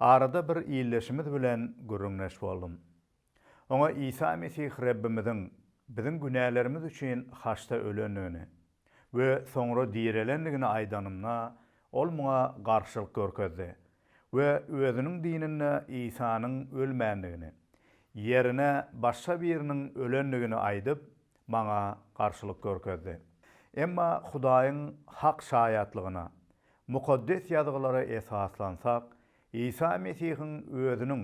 Arada bir ildeşimiz bilen gürrüňdeş boldum. Oňa Isa Mesih Rebbimiziň biziň günälerimiz üçin haçda ölendigini we soňra direlendigini aýdanymda, ol muňa garşylyk görkezdi we özüniň dininde Isanyň ölmändigini, ýerine başga biriniň ölendigini aýdyp, maňa garşylyk görkezdi. Emma Hudaýyň hak şaýatlygyna Mukaddes Ýazgylara esaslansak, Isa Mesihiň özüniň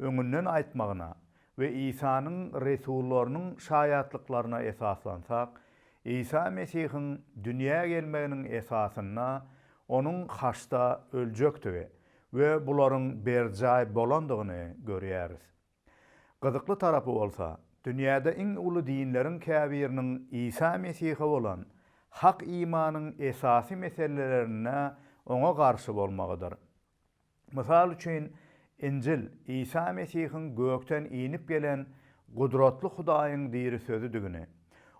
öňünden aýtmagyna we Isanyň resullarynyň şaýatlyklaryna esaslansak, Isa Mesihiň dünýä gelmeginiň esasynda Onuň haçda öljekdigi we bularyň berjaý bolandygyny görýäris. Gyzykly tarapy bolsa, dünýäde iň uly dinleriň käbiriniň Isa Mesihe bolan hak imanyň esasy meselelerinde oňa garşy bolmagydyr. Mysal üçin, Injil Isa Mesihiň gökden inip gelen gudratly Hudaýyň diri Sözüdigini,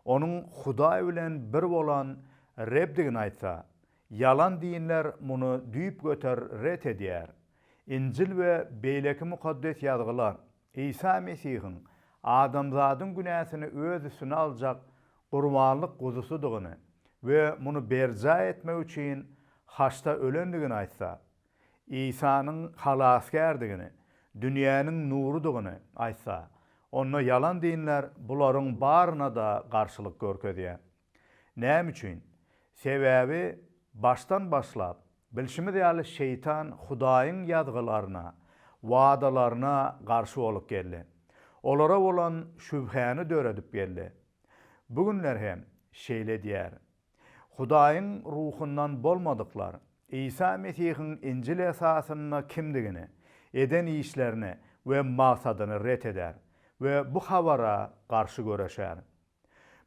onuň Hudaý bilen bir bolan Rebdigini aýtsa, Ýalan dinler muny düýpgöter ret edýär. Injil we beýleki Mukaddes Ýazgylar Isa Mesihiň adamzadyň günäsini öz üstüne aljak gurbanlyk guzusydygyny we muny berjaý etmek üçin haçda ölendigini aýtsa, Isanyň halasgärdigini, dünýäniň nurudygyny aýtsa, onda ýalan dinler bularyň baryna-da garşylyk görkezýär. Näme üçin? Sebäbi başdan başlap, bilşimiz ýaly şeýtan Hudaýyň ýazgylaryna, wadalaryna garşy bolup geldi. Olara bolan şübhäni döredip geldi. Bu günler hem şeýle edýär. Hudaýyň ruhundan bolmadyklar Isa Mesihiň Injil esasynda kimdigini, eden işlerini we magsadyny ret eder we bu habara garşy göreşer.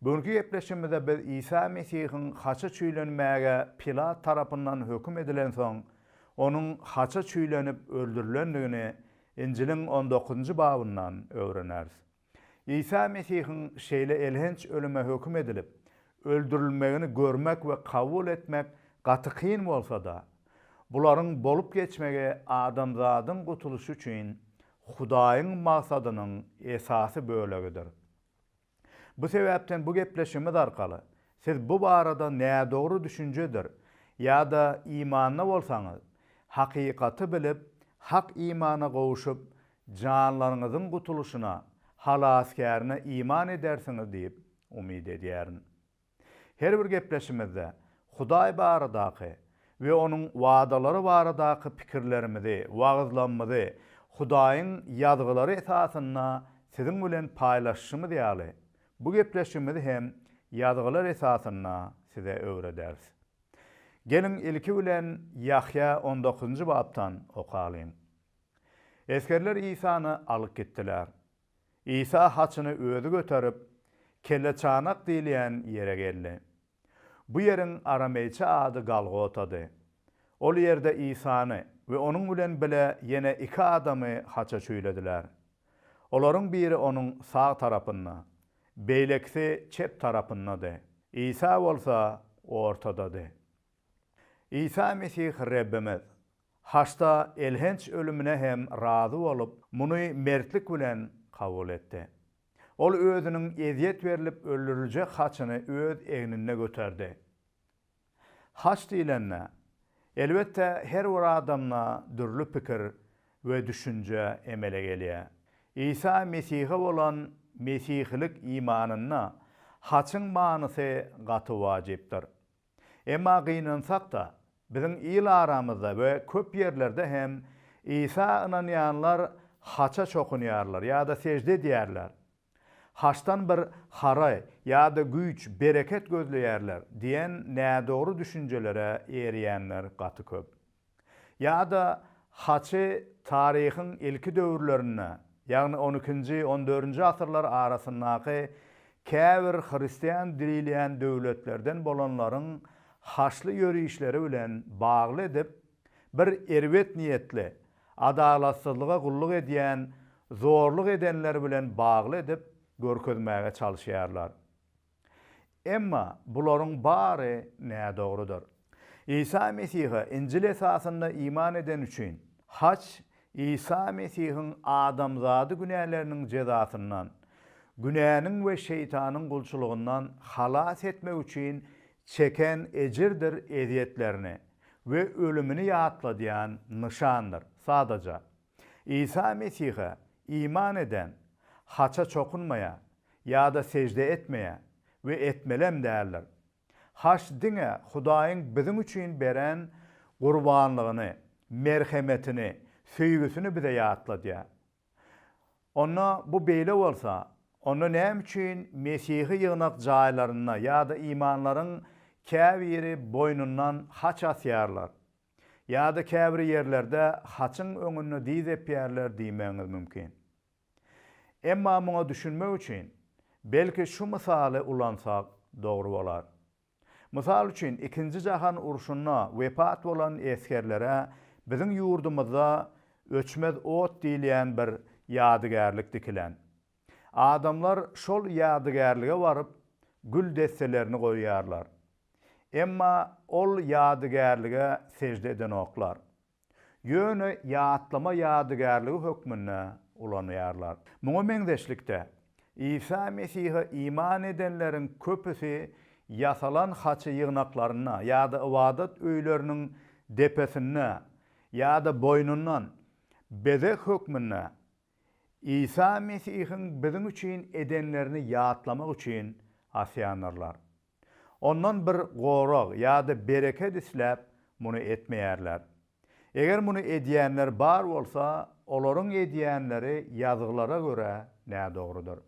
Bu günki gepleşigimizde biz Isa Mesihiň haça çüýlenmäge Pilat tarapyndan höküm edilensoň, onuň haça çüýlenip öldürilendigini Injiliň on dokuzynjy babyndan öwreneris. Isa Mesihiň şeýle elhenç ölüme höküm edilip, öldürilmegini görmek we kabul etmek gaty kyn bolsa-da, bularyň bolup geçmegi adamzadyň gutulyşy üçin Hudaýyň magsadynyň esasy bölegidir. Bu sebäpden bu gepleşigimiz arkaly siz bu barada nädogry düşünjedir ýa-da imanda bolsaňyz, hakykaty bilip, hak imana gowuşyp, janlaryňyzyň gutulyşyna, Halasgärine iman edersiňiz diýip umyt edýärin. Her bir gepleşimizde Hudaý baradaky we Onuň wadalary baradaky pikirlerimizi, wagyzlamyzy Hudaýyň Ýazgylary esasynda siziň bilen paýlaşyşymyz ýaly, bu gepleşigimizi hem Ýazgylar esasynda size öwrederis. Geliň, ilki bilen Ýahýa on dokuzynjy bapdan okalyň. Esgerler Isany alyp gitdiler. Isa haçyny özi göterip, Kelleçanak diýilýän ýere geldi. Bu ýeriň arameýçe ady Galgotady. Ol ýerde Isany we onuň bilen bile ýene iki adamy haça çüýlediler. Olaryň biri onuň sag tarapynda, beýlekisi çep tarapyndady. Isa bolsa ortadady. Isa Mesih Rebbimiz, Haçda elhenç ölümine hem razy bolup, muny mertlik bilen kabul etdi. Ol özüniň ezýet berlip öldüriljek haçyny öz egninde göterdi. Haç diýlende, elbetde, her bir adamda dürli pikir we düşünje emele gelýär. Isa Mesihe bolan mesihilik imanynda haçyň manysy gaty wajypdyr. Emma gynansak-da, biziň il aramyzda we köp ýerlerde hem Isa ynanýanlar haça çokunýarlar ýa-da sežde edýärler. Haçdan bir hara ýa-da güýç, bereket gözleýärler diýen nädogry düşünjelere erýänler gaty köp. Ýa-da haçy taryhyň ilki döwürlerinde, ýagny on ikinji, on dördünji asyrlar arasyndaky käbir hristian dirilýän döwletlerden bolanlaryň haçly ýörişleri bilen bagly edip, bir erbet niýetli, adalatsyzlyga gulluk edýän, zorluk edenler bilen bagly edip görkezmäge çalyşýarlar. Emma bularyň bary nädogrudyr. Isa Mesihe Injil esasynda iman edeni üçin, haç Isa Mesihiň adamzady günäleriniň jezasyndan, günäniň we şeýtanyň gulçulygyndan halas etmek üçin çeken ejirdir ezýetlerini we ölümini ýatladýan nyşandyr, sadaja Isa Mesihe iman eden haça çokunmaýar ýa-da sežde etmeýär we etmelem däldir. Haç diňe Hudaýyň biziň üçin beren gurbanlygyny, merhemetini, söýgüsini bize ýatladýar. Onda bu beýle bolsa, onda näme üçin Mesihi ýygnak jaýlarynda ýa-da imanlaryň käbiri boýnundan haç asýarlar? Ýa-da käbir ýerlerde haçyň öňünde dyz epýärler diýmegiňiz mümkin. Emma muňa düşünmek üçin, belki şu mysaly ulansak dogry bolar. Mysal üçin, Ikinji jahan urşunda wepat bolan esgerlere biziň ýurdumyzda öçmez ot diýilýän bir ýadygärlik dikilen. Adamlar şol ýadygärlige baryp, gül desselerini goýýarlar. Emma ol ýadygärlige sežde edenoklar. Ýöne ýatlama ýadygärligi hökmünde ulanýarlar. Muňa meňzeşlikde, Isa Mesihe iman edenleriň köpüsi ýasalan haçy ýygnaklarynda ýa-da ybadat öýleriniň depesinde ýa-da boýnundan bezeg hökmünde Isa Mesihiň biziň üçin edenlerini ýatlamak üçin asýandyrlar. Ondan bir gorag ýa-da bereket isläp muny etmeýärler. Eger muny edýänler bar bolsa, olaryň edýänleri Ýazgylara görä nädogrudyr.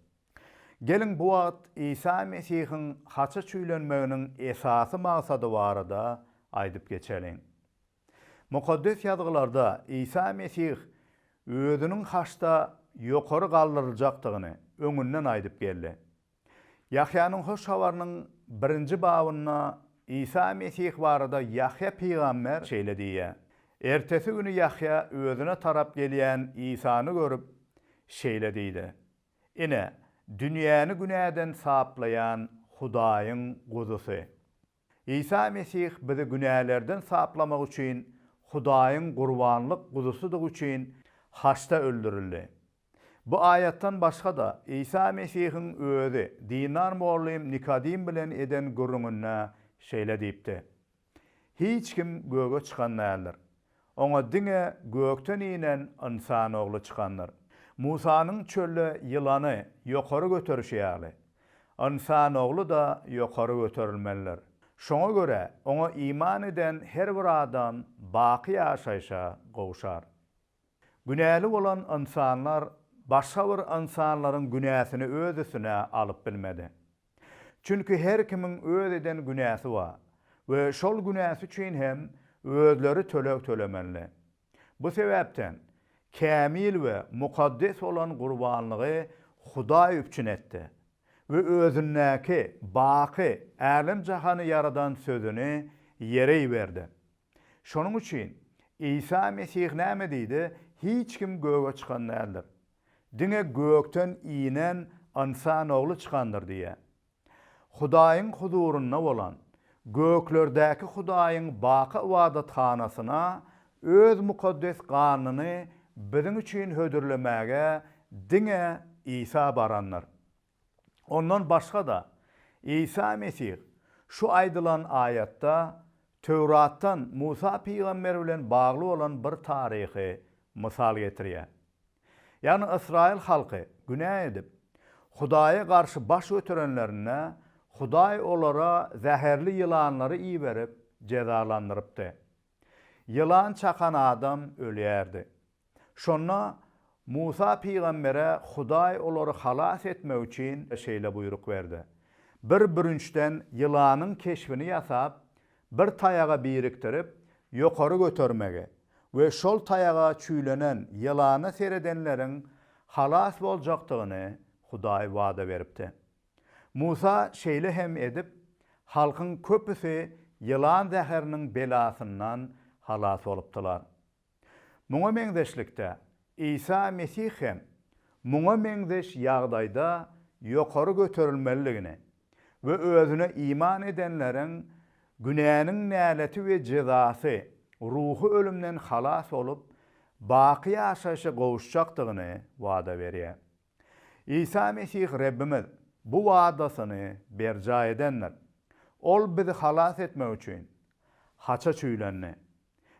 Geliň, bu wagt Isa Mesihiň haça çüýlenmeginiň esasy maksady barada aýdyp geçeliň. Mukaddes Ýazgylarda Isa Mesih Özüniň haçda ýokary galdyryljakdygyny öňünden aýdyp geldi. Ýahýanyň Hoş Habarynyň birinji babynda Isa Mesih barada Ýahýa pygamber şeýle diýýär, Ertesi güni Ýahýa özüne tarap gelýän Isany görüp, şeýle diýdi, Ine, dünýäni günäden saplaýan Hudaýyň Guzusy! Isa Mesih bizi günälerden saplamak üçin Hudaýyň gurbanlyk guzusydygy üçin haçda öldürildi. Bu aýatdan başga-da, Isa Mesihiň Özi dindar mugallym Nikodim bilen eden gürrüňinde şeýle diýipdi, Hiç kim göge çykan däldir. Oňa diňe gökden inen Ynsan Ogly çykandyr. Musanyň çölde ýylany ýokary göterişi ýaly, Ynsan Ogly-da ýokary göterilmelidir. Şoňa görä, Oňa iman eden her bir adam baky ýaşaýşa gowşar. Günäli bolan ynsanlar başga bir ynsanlaryň günäsini öz üstüne alyp bilmedi. Çünki her kimiň öz eden günäsi bar we şol günäsi üçin hem özleri töleg tölemeli. Bu sebäpden kämil we mukaddes bolan gurbanlygy Hudaý üpjün etdi we özündäki baky älem-jahany ýaradan Sözüni ýere iberdi. Şonuň üçin Isa Mesih näme diýdi, Hiç kim göge çykan däldir. Diňe gökden inen Ynsan Ogly çykandyr diýýär. Hudaýyň huzurynda bolan, göklerdäki Hudaýyň baky ybadathanasyna Öz mukaddes ganyny biziň üçin hödürlemäge diňe Isa barandyr. Ondan başga-da, Isa Mesih şu aýdylan aýatda Töwratdan Musa pygamber bilen bagly bolan bir taryhy mysal getirýär. Ýagny ysraýyl halky günä edip, Hudaýa garşy baş göterenlerinde, Hudaý olara zäherli ýylanlary iberip, jezalandyrypdy. Ýylan çakan adam ölýärdi. Şonda Musa pygambere Hudaý olary halas etmek üçin şeýle buýruk berdi, Bir bürünçden ýylanyň keşbini ýasap, bir taýaga birikdirip, ýokary götermegi we şol taýaga çüýlenen ýylana seredenleriň halas boljakdygyny Hudaý wada beripdi. Musa şeýle hem edip, halkyň köpüsi ýylan zäheriniň belasyndan halas bolupdylar. Muňa meňzeşlikde, Isa Mesih hem muňa meňzeş ýagdaýda ýokary göterilmelidigini we özüne iman edenleriň günäniň näleti we jezasy, ruhy ölümden halas bolup, baky ýaşaýşa gowuşjakdygyny wada berýär. Isa Mesih Rebbimiz bu wadasyny berjaý edendir. Ol bizi halas etmek üçin haça çüýlendi.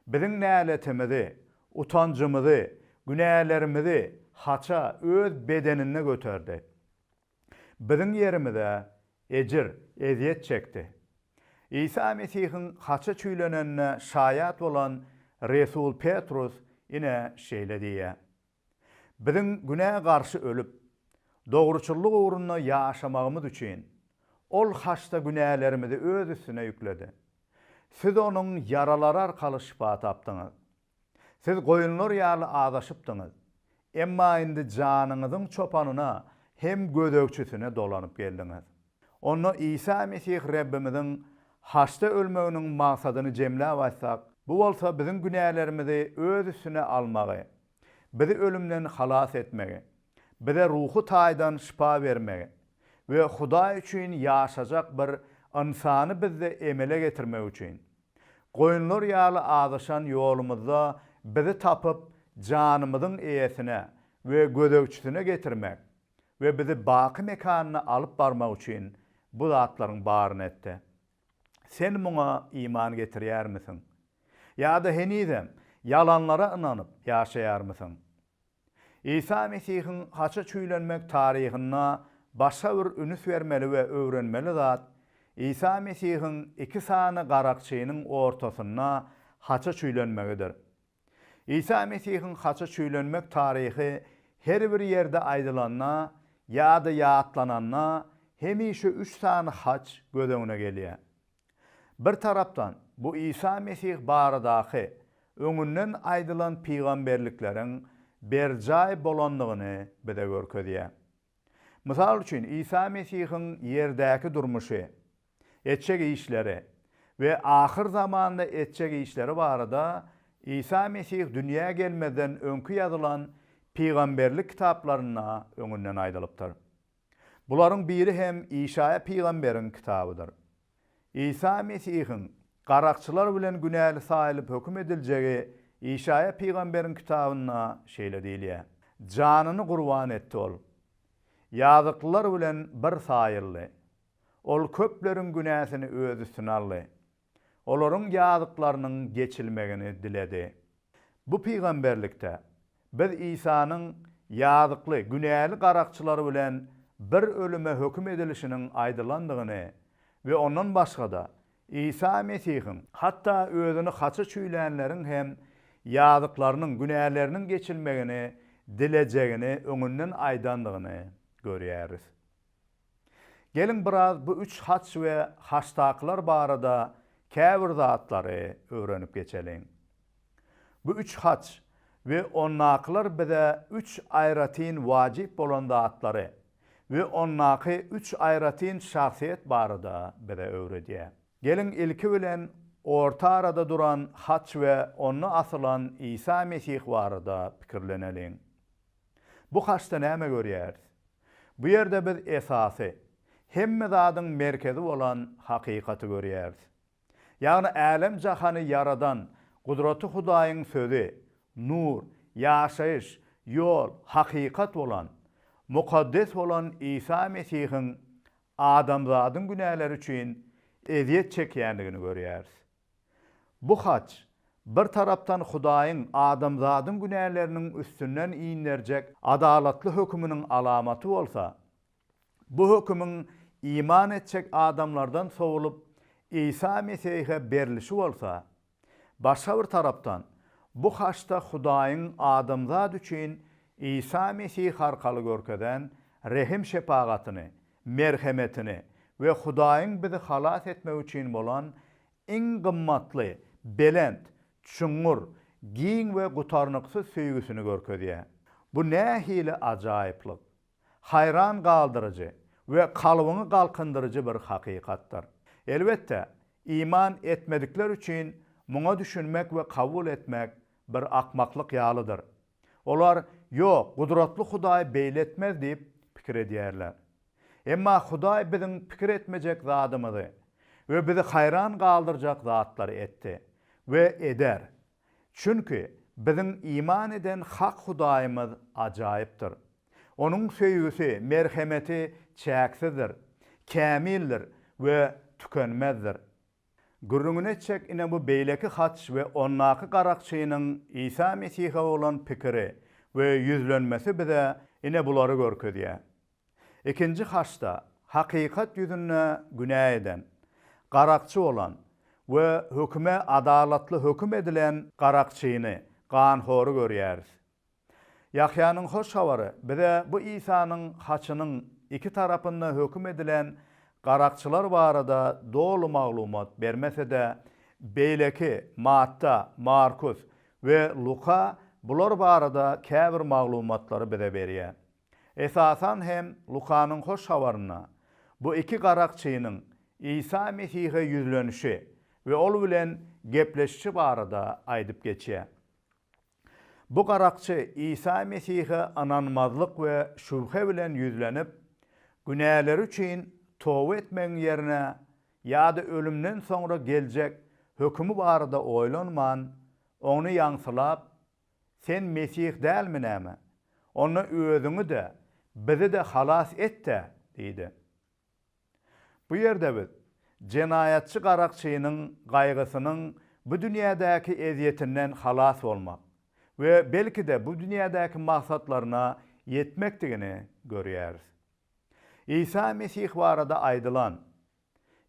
Biziň näletimizi, utanjymyzy, günälerimizi haça öz bedeninde göterdi. Biziň ýerimize ejir, ezýet çekdi. Isa Mesihiň haça çüýlenenine şaýat bolan resul Petrus ine şeýle diýýär. Biziň günä garşy ölüp, dogruçyllyk ugrunda ýaşamagymyz üçin, Ol haçda günälerimizi Öz üstüne ýükledi. Siz Onuň ýaralary arkaly şypa tapdyňyz. Siz goýunlar ýaly azaşypdyňyz, emma indi janyňyzyň çopanyna hem gözegçisine dolanyp geldiňiz. Onda Isa Mesih Rebbimiziň Haçda ölmeginiň maksadyny jemläp aýtsak, bu bolsa biziň günälerimizi öz üstüne almagy, bizi ölümden halas etmegi, bize ruhy taýdan şypa bermegi we Hudaý üçin ýaşajak bir ynsany bizde emele getirmegi üçin, goýunlar ýaly azaşan ýolumyzda bizi tapyp, janymyzyň eýesine we gözegçisine getirmek, we bizi baky mekanyna alyp barmak üçin bu zatlaryň baryny etdi. Sen muňa iman getirýärmisiň? Ýa-da henizem ýalanlara ynanyp ýaşaýarmysyň? Isa Mesihiň haça çüýlenmek taryhynda başga bir ünüs bermeli we öwrenmeli zat, Isa Mesihiň iki sany garakçynyň ortasynda haça çüýlenmegidir. Isa Mesihiň haça çüýlenmek taryhy her bir ýerde aýdylanda ýa-da ýatlananda hemişe üç sany haç göz öňüne gelýär. Bir tarapdan, bu Isa Mesih baradaky öňünden aýdylan pygamberlikleriň berjaý bolandygyny bize görkezýär. Mysal üçin, Isa Mesihiň ýerdäki durmuşy, etjek işleri we ahyr zamanda etjek işleri barada Isa Mesih dünýä gelmezden öňki ýazylan pygamberlik kitaplarynda öňünden aýdylypdyr. Bularyň biri hem Işaýa pygamberiň kitabydyr. Isa Mesihiň garakçylar bilen günäli saýylyp höküm ediljegi Işaýa pygamberiň kitabynda şeýle diýilýär, Janyny gurban etdi Ol. Ýazyklylar bilen bir saýyldy. Ol köpleriň günäsini Öz üstüne aldy. Olaryň ýazyklarynyň geçilmegini diledi. Bu pygamberlikde Biz Isanyň ýazykly, günäli garakçylar bilen bir ölüme höküm edilişiniň aýdylandygyny we ondan başga-da, Isa Mesihiň hatda özüni haça çüýlänleriň hem ýazyklarynyň, günäleriniň geçilmegini dilejegini öňünden aýdandygyny görýäris. Geliň biraz bu üç haç we haçdakylar barada käbir zatlary öwrenip geçeliň. Bu üç haç we ondakylar bize üç aýratyn wajyp bolan zatlary we ondaky üç aýratyn şahsyýet barada bize öwredýär. Geliň ilki bilen orta arada duran haç we onda asylan Isa Mesih barada pikirleneliň. Bu haçda näme görýäris? Bu ýerde biz esasy, hemme zadyň merkezi bolan hakykaty görýäris. Ýagny älem-jahany ýaradan Gudraty Hudaýyň Sözi, nur, ýaşaýyş, ýol, hakykat bolan, mukaddes bolan Isa Mesihiň adamzadyň günäleri üçin ezýet çekýändigini görýäris. Bu haç, bir tarapdan Hudaýyň adamzadyň günäleriniň üstünden inderjek adalatly höküminiň alamaty bolsa, bu hökümiň iman etjek adamlardan sowlup, Isa Mesihe berlişi bolsa, başga bir tarapdan, bu haçda Hudaýyň adamzat üçin Isa Mesih arkaly görkezen rehim-şepagatyny merhemetini we Hudaýyň bizi halas etmegi üçin bolan iň gymmatly, belent, çuňňur, giň we gutarnyksyz söýgüsini görkezýär. Bu nähili ajaýyplyk, haýran galdyryjy we kalbyňy galkyndyryjy bir hakykatdyr! Elbetde, iman etmedikler üçin muňa düşünmek we kabul etmek bir akmaklyk ýalydyr. Olar, Ýok, gudratly Hudaý beýle etmez diýip pikir edýärler. Emma Hudaý biziň pikir etmejek zadymyzy we bizi haýran galdyrjak zatlary etdi we eder. Çünki biziň iman eden hak Hudaýymyz ajaýypdyr. Onuň söýgüsi, merhemeti çäksizdir, kämildir we tükenmezdir. Gürrüňini etjek ine bu beýleki haç we ondaky garakçynyň Isa Mesihe bolan pikiri we ýüzlenmesi bize ine bulary görkezýär. Ikinji haçda hakykat ýüzünde günä eden, garakçy bolan we höküme adalatly höküm edilen garakçyny, ganhory görýäris. Ýahýanyň Hoş Habary bize bu Isanyň haçynyň iki tarapynda höküm edilen garakçylar barada doly maglumat bermese-de, beýleki Matta, Markus we Luka bular barada käbir maglumatlary bize berýär. Esasan hem Lukanyň Hoş Habarynda bu iki garakçynyň Isa Mesihe ýüzlenişi we ol bilen gepleşişi barada aýdyp geçýär. Bu garakçy Isa Mesihe ynanmazlyk we şübhe bilen ýüzlenip, günäleri üçin toba etmegiň ýerine ýa-da ölümden soňra geljek hökümi barada oýlanman, ony ýaňsylap, Sen Mesih dälmi näme? Onda özüňi-de, bizi-de halas et-dä! diýdi. Bu ýerde biz jenaýatçy garakçynyň gaýgysynyň bu dünýädäki ezýetinden halas bolmak we belki-de bu dünýädäki maksatlaryna ýetmekdigini görýäris. Isa Mesih barada aýdylan,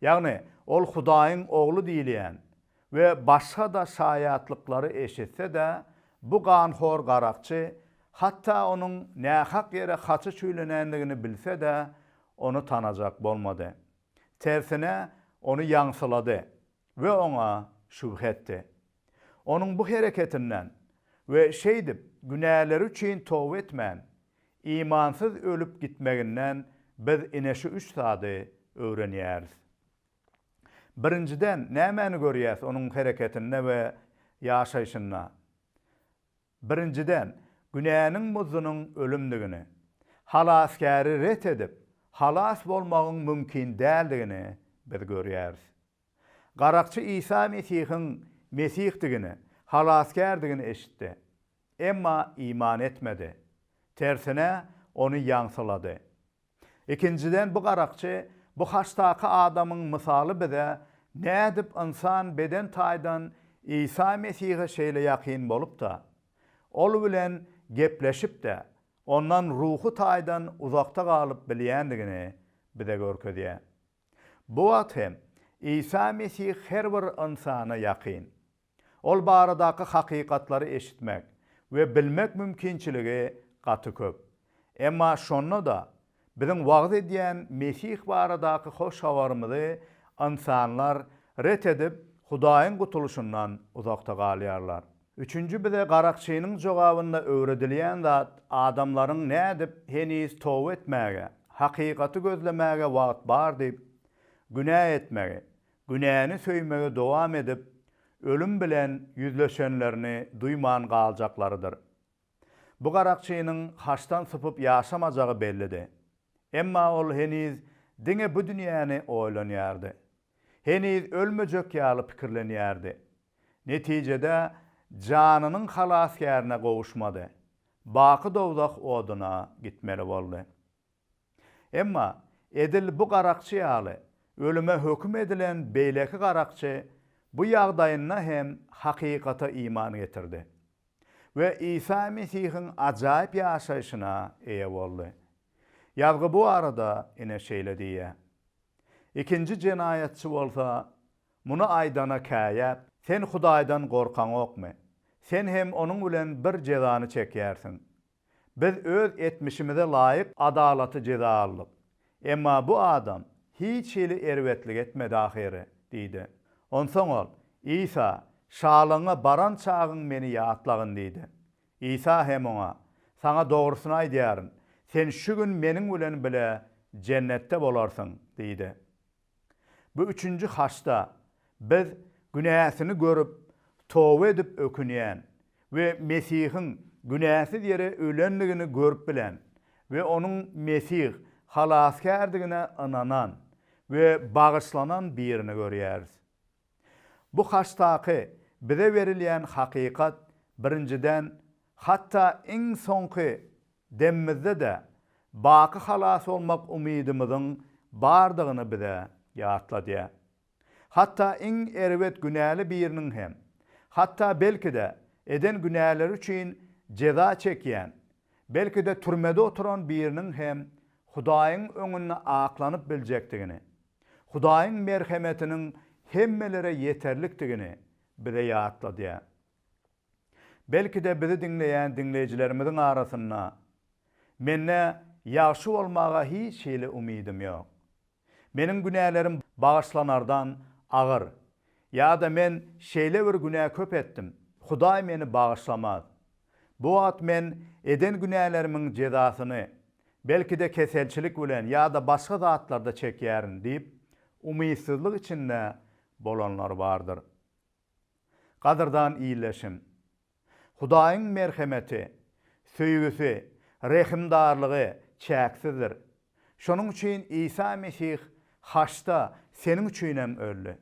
ýagny Ol Hudaýyň Ogly diýilýän we başga-da şaýatlyklary eşitse-de, bu ganhor garakçy, hatda onuň nähak ýere haçy çüýlenendigini bilse-de, ony tanajak bolmady. Tersine, ony ýaňsylady we oňa şübhe etdi. Onuň bu hereketinden we şeýdip günäleri üçin toba etmän, imansyz ölüp gitmeginden biz ine şu üç zady öwrenýäris. Birinjiden, nämäni görýäs onuň hereketinde we ýaşaýşynda? Birinjiden, günäniň muzdunyň ölümdigini, Halasgäri ret edip, halas bolmagyň mümkin däldigini biz görýäris. Garakçy Isa Mesihiň Mesihdigini, Halasgärdigini eşitdi. Emma iman etmedi. Tersine, ony ýaňsylady. Ikinjiden bu garakçy, bu haştaky adamyň mysaly bize nädip ynsan beden taýdan Isa Mesihe şeýle ýakyn bolup-da, Ol bilen gepleşip-de, Ondan ruhy taýdan uzakda galyp bilýändigini bize görkezýär. Bu wagt hem Isa Mesih her bir ynsana ýakyn. Ol baradaky hakykatlary eşitmek we bilmek mümkinçiligi gaty köp. Emma şonda-da, biziň wagyz edýän Mesih baradaky hoş habarymyzy ynsanlar ret edip, Hudaýyň gutulyşyndan uzakda galýarlar. Üçünji bize garakçynyň jogabynda öwredilýän zat adamlaryň nädip heniz toba etmäge, hakykaty gözlemäge wagt bar diýip, günä etmegi Günäni söýmegi dowam edip, ölüm bilen ýüzleşenlerini duýman galjaklarydyr. Bu garakçynyň haçdan sypyp ýaşamajagy bellidi. Emma ol heniz diňe bu dünýäni oýlanýardy. Heniz ölmejek ýaly pikirlenýärdi. Netijede janynyň halasgärine gowuşmady. Baky dowzah oduna gitmeli boldy. Emma edil bu garakçy ýaly ölüme höküm edilen beýleki garakçy bu ýagdaýynda hem hakykata iman getirdi we Isa Mesihiň ajaýyp ýaşaýşyna eýe boldy. Ýazgy bu barada ine şeýle diýýär, Ikinji jenaýatçy bolsa, muny aýdana käýäp, Sen Hudaýdan gorkaňokmy? Sen hem onuň bilen bir jezany çekýärsiň. Biz öz etmişimize laýyk adalaty jeza aldyk. Emma bu adam hiç hili erbetlik etmedi ahyry, diýdi. Onsoň ol, Isa, şalygyňa baran çagyň meni ýatlagyn diýdi. Isa hem oňa, Saňa dogrusyny aýdýaryn, sen şu gün meniň bilen bile Jennetde bolarsyň, diýdi. Bu üçünji haçda biz günäsini görüp, toba edip ökünýän we Mesihiň günäsiz ýere ölendigini görüp bilen we onuň Mesih Halasgärdigine ynanan we bagyşlanan birini görýäris. Bu haçdaky bize berilýän hakykat birinjiden hatda iň soňky Demimizde-de baky halas bolmak umydymyzyň bardygyny bize ýatladýar. Hatda iň erbet günäli biriniň hem, hatda belki-de eden günäleri üçin jeza çekýän, belki-de türmede oturan biriniň hem Hudaýyň öňünde aklanyp biljekdigini, Hudaýyň merhemetiniň hemmelere ýeterlikdigini bize ýatladýar. Belki-de bizi diňleýän diňleýjilerimiziň arasynda, Mende ýagşy bolmaga hiç hili umydym ýok. Meniň günälerim bagyşlanardan agyr ýa-da men şeýle bir günä köp etdim, Hudaý meni bagyşlamaz. Bu wagt men eden günälerimiň jezasyny, belki-de keselçilik bilen ýa-da başga zatlarda çekýärin diýip, umytsyzlyk içinde bolanlar bardyr. Gadyrdan ildeşim! Hudaýyň merhemeti, söýgüsi, rehimdarlygy çäksizdir. Şonuň üçin Isa Mesih haçda seniň üçinem öldi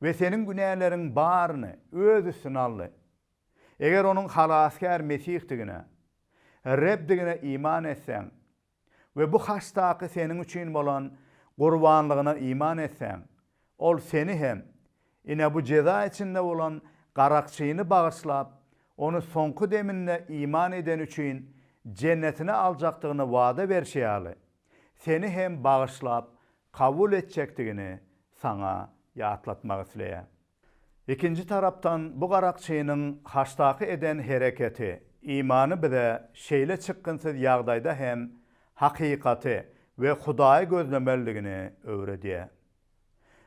we seniň günäleriň baryny öz üstüne aldy. Eger onuň halasgär Mesihdigine, Rebdigine iman etseň, we bu haçdaky seniň üçin bolan gurbanlygyna iman etseň, Ol seni hem, ine, bu jeza içinde bolan garakçyny bagyşlap, ony soňky deminde iman edeni üçin Jennetine aljakdygyny wada berşi ýaly, seni hem bagyşlap kabul etjekdigini saňa ýatlatmak isleýär. Ikinji tarapdan bu garakçynyň haçdaky eden hereketi, imany bize şeýle çykgynsyz ýagdaýda hem hakykaty we Hudaýy gözlemelidigini öwredýär.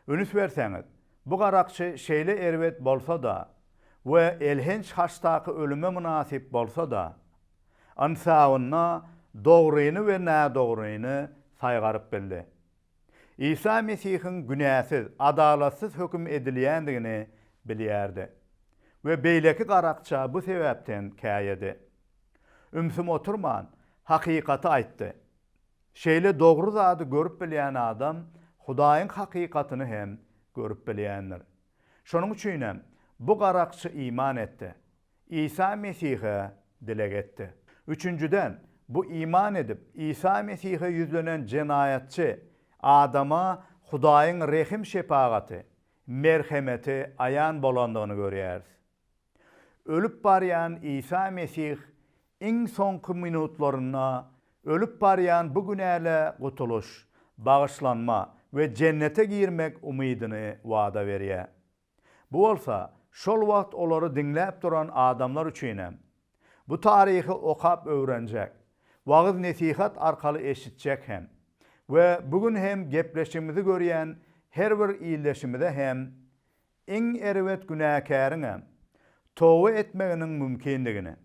Ünüs berseňiz, bu garakçy şeýle erbet bolsa-da we elhenç haçdaky ölüme mynasyp bolsa-da, ynsabynda dogryny we nädogryny saýgaryp bildi. Isa Mesihiň günäsiz, adalatsyz höküm edilýändigini bilýärdi we beýleki garakça bu sebäpden käýedi. Ümsüm oturman, hakykaty aýtdy. Şeýle dogry zady görüp bilýän adam Hudaýyň hakykatyny hem görüp bilýändir. Şonuň üçinem, bu garakçy iman etdi, Isa Mesihe dileg etdi. Üçünjiden, bu iman edip, Isa Mesihe ýüzlenen jenaýatçy adama Hudaýyň rehim-şepagaty, merhemeti aýan bolandygyny görýäris. Ölüp barýan Isa Mesih iň soňky minutlarynda ölüp barýan bu günälä gutulyş, bagyşlanma we jennete girmek umydyny wada berýär. Bu bolsa, şol wagt olary diňläp duran adamlar üçin hem, bu taryhy okap öwrenjek, wagyz-nesihat arkaly eşitjek hem we bu gün hem gepleşigimizi görýän her bir ildeşimize hem iň erbet günäkäriňem toba etmeginiň mümkindigini,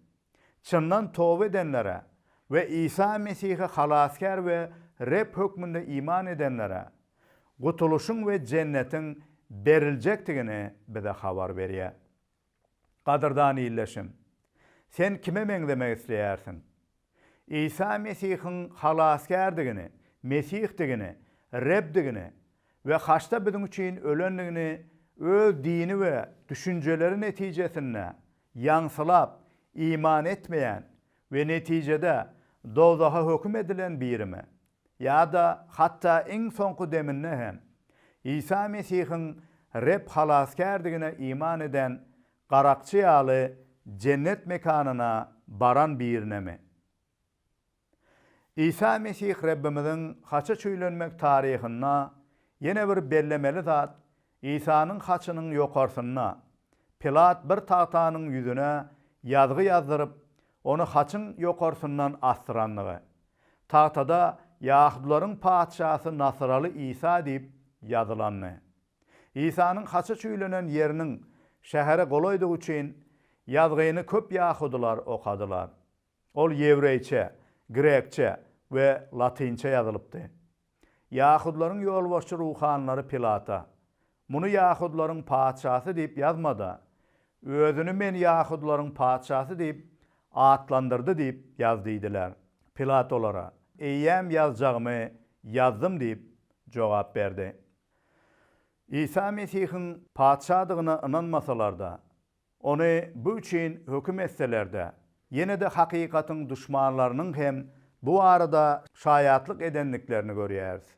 Çyndan toba edenlere we Isa Mesihe Halasgär we Reb hökmünde iman edenlere gutulyşyň we jennetiň beriljekdigini bize habar berýär. Gadyrdan ildeşim, sen kime meňzemek isleýärsiň? Isa Mesihiň Halasgärdigini, Mesihdigini, Rebdigini we haçda biziň üçin ölendigini öz dini we düşünjeleri netijesinde Ýaňsylap, iman etmeýän we netijede dowzaha höküm edilen birimi? Ýa-da hatda iň soňky deminde hem Isa Mesihiň Reb Halasgärdigine iman eden garakçy ýaly jennet mekanyna baran birinemi? Isa Mesih Rabbimiziň haça çüýlenmek taryhynda ýene bir bellemeli zat Isanyň haçynyň ýokarsynda Pilat bir tagtanyň ýüzüne ýazgy ýazdyryp, Ony haçyň ýokarsyndan asdyrandygy. Tagtada Ýahudylaryň patyşasy Nasaraly Isa diýip ýazylandy. Isanyň haça çüýlenen ýeriniň şähere golaýdygy üçin ýazgyny köp ýahudylar okadylar. Ol ýewreýçe, grekçe we latynça ýazylypdy. Ýahudylaryň ýolbaşçy ruhanylary Pilata, Muny ýahudylaryň patyşasy diýip ýazma-da, Özüni Men ýahudylaryň patyşasy diýip atlandyrdy diýip ýaz diýdiler. Pilat olara, Eýýäm ýazjagymy ýazdym diýip jogap berdi. Isa Mesihiň patyşadygyna ynanmasalar-da, Ony bu üçin höküm etseler-de, ýene-de hakykatyň duşmanlarynyň hem bu barada şaýatlyk edendiklerini görýäris.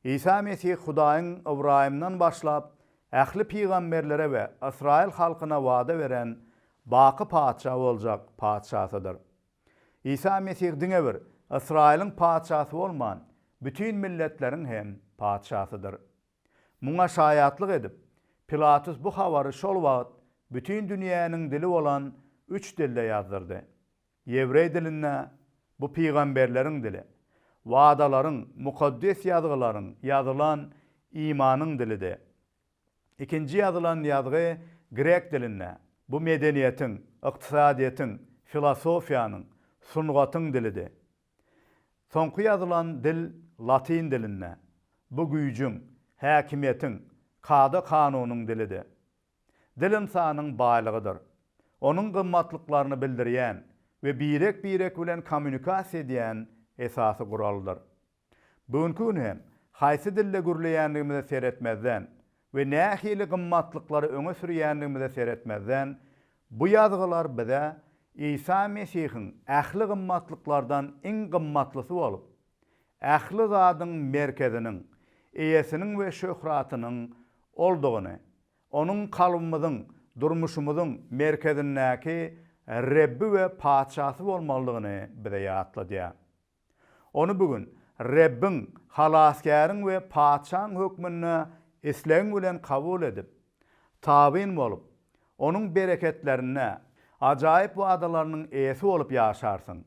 Isa Mesih Hudaýyň Ybraýymdan başlap ähli pygamberlere we ysraýyl halkyna wada beren baky Patyşa boljak Patyşasydyr. Isa Mesih diňe bir Ysraýylyň Patyşasy bolman, bütin milletleriň hem Patyşasydyr. Muňa şaýatlyk edip, Pilatus bu habary şol wagt bütin dünýäniň dili bolan üç dilde ýazdyrdy. Ýewreý dilinde, Bu pygamberleriň dili. Wadalaryň, Mukaddes Ýazgylaryň ýazylan imanyň dilidi. Ikinji ýazylan ýazgy grek dilinde, Bu medeniýetiň, ykdysadyýetiň, filosofiýanyň, sungatyň dilidi. Soňky ýazylan dil latyn dilinde. Bu güýjüň, häkimiýetiň, kada-kanunyň dilidi. Dil ynsanyň baýlygydyr. Onuň gymmatlyklaryny bildirýän we birek-birek bilen kommunikasiýa edýän esasy guraldyr. Bu günki gün hem haýsy dilde gürleýändigimize seretmezden, we nähili gymmatlyklary öňe sürýändigimize seretmezden, bu ýazgylar bize Isa Mesihiň ähli gymmatlyklardan iň gymmatlysy bolup, ähli zadyň merkeziniň, eýesiniň we şöhratynyň Oldugyny, Onuň kalbymyzyň, durmuşymyzyň merkezindäki Rebbi we Patyşasy bolmalydygyny bize ýatladýar. Ony bu gün Rebbiň, Halasgäriň we Patyşaň hökmünde islegiň bilen kabul edip, tabyn bolup, Onuň bereketlerine, ajaýyp wadalarynyň eýesi bolup ýaşarsyň.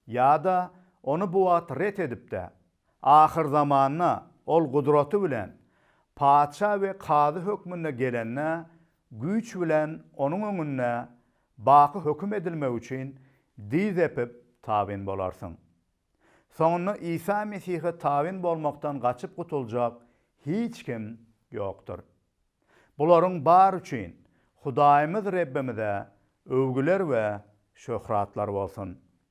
Ýa-da Ony bu wagt ret edip-de, ahyrzamanda Ol gudraty bilen Patyşa we Kazy hökmünde gelende, güýç bilen Onuň öňünde Baky höküm edilmek üçin dyz epip tabyn bolarsyň. Soňunda Isa Mesihe tabyn bolmakdan gaçyp gutuljak hiç kim ýokdur. Bularyň bary üçin Hudaýymyz Rebbimize öwgüler we şöhratlar bolsun!